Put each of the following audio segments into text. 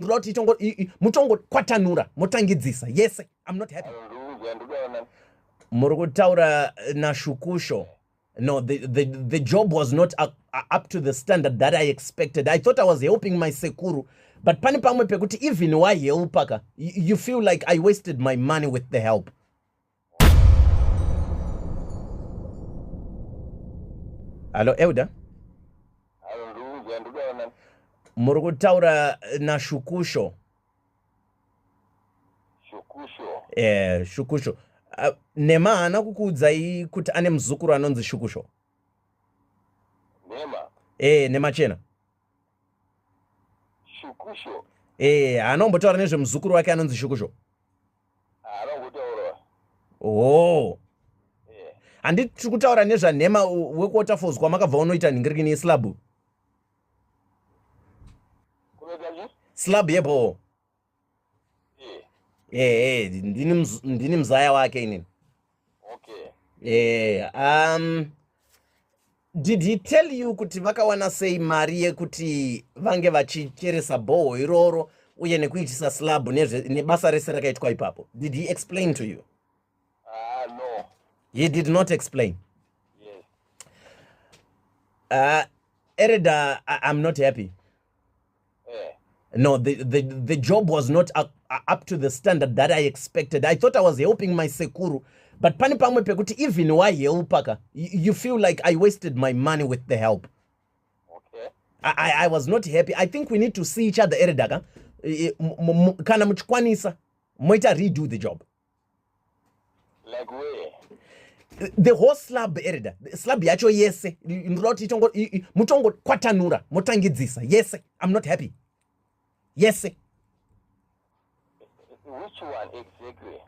ndoda kuti itongo mutongokwatanura motangidzisa yese i'm not happy muri kutaura nashukusho no the, the, the job was not up, up to the standard that i expected i thought i was helping my sekuru but pane pamwe pekuti even wahelpaka you feel like i wasted my money with the help Hello, Elder. muri kutaura nashukusho shukusho eh shukusho uh, nema haana kukuudzai kuti ane muzukuru anonzi shukusho nema eh nema chena shukusho eh haana kumbotaura nezvemuzukuru wake anonzi shukusho oh handi tiri kutaura nezvanhema wekuwaterfalls kwamakabva unoita nhingirikini yeslabhu slab yebhowo ehe ndini mzaya wake inini okay eh um did he tell you kuti vakawana sei mari yekuti vange vachicheresa bhoho iroro uye nekuitisa slab nebasa rese rakaitwa ipapo did he explain to you uh, no. he did not explain yes. uh, ereda i'm not happy no the, the, the job was not up, up to the standard that i expected i thought i was helping my sekuru but pane pamwe pekuti even wahelpaka you feel like i wasted my money with the help okay. I, i was not happy i think we need to see each other eredaka kana muchikwanisa moita redo the job like where the whole slab erida slab yacho yese ndinoda kuti itongo mutongo kwatanura motangidzisa yese i'm not happy yese which one exactly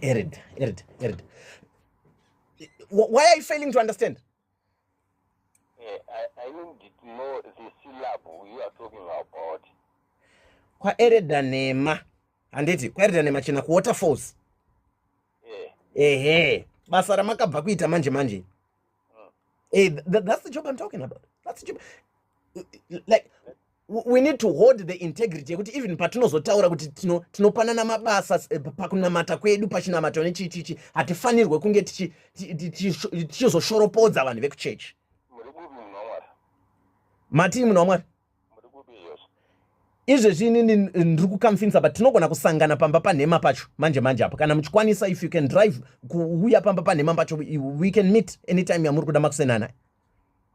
erida erida erida why are you failing to understand Eh, I, I need to know the syllable you are talking about. Kwaereda nema. Handiti kwaereda nema chena ku waterfalls. Eh. Ehe. Basa ramakabva kuita manje manje. Mm. Eh, that, that's the job I'm talking about. That's the job. Like we need to hold the integrity yekuti even patinozotaura kuti tinopanana mabasa eh, pakunamata kwedu pachinamato nechichichi hatifanirwe kunge tichizoshoropodza vanhu vekuchechi matii munhu wamwari izvezvi inini ndiri kukamfinsa but tinogona kusangana pamba panhema pacho manje manje apo kana muchikwanisa if you can drive kuuya pamba panhema pacho we can meet anytime yamuri kuda makusenana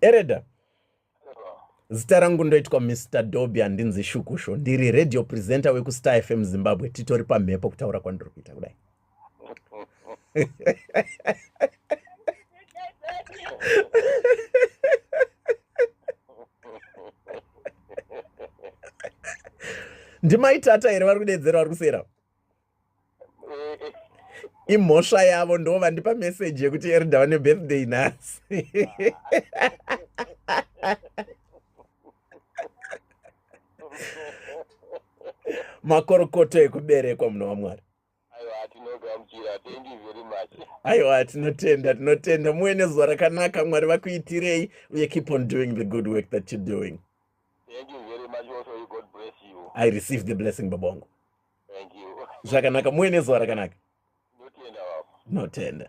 ereda zita rangu ndoitwa mr doby handinzi shukusho ndiri radio presenter wekustar fm zimbabwe titori pamhepo kutaura kwandiri kuita kudai ndimaitata here vari kudedzera vari kusera imhosva yavo ndo vandipa meseji yekuti erida vane birthday nhasi makorokoto ekuberekwa muna wamwari aiwa tinotenda tinotenda muwe nezuva rakanaka mwari vakuitirei uye keep on doing the good work that you're doing Thank you very much also you God bless you I receive the blessing baba wangu Thank you zvakanaka muwe nezuva rakanaka notenda baba notenda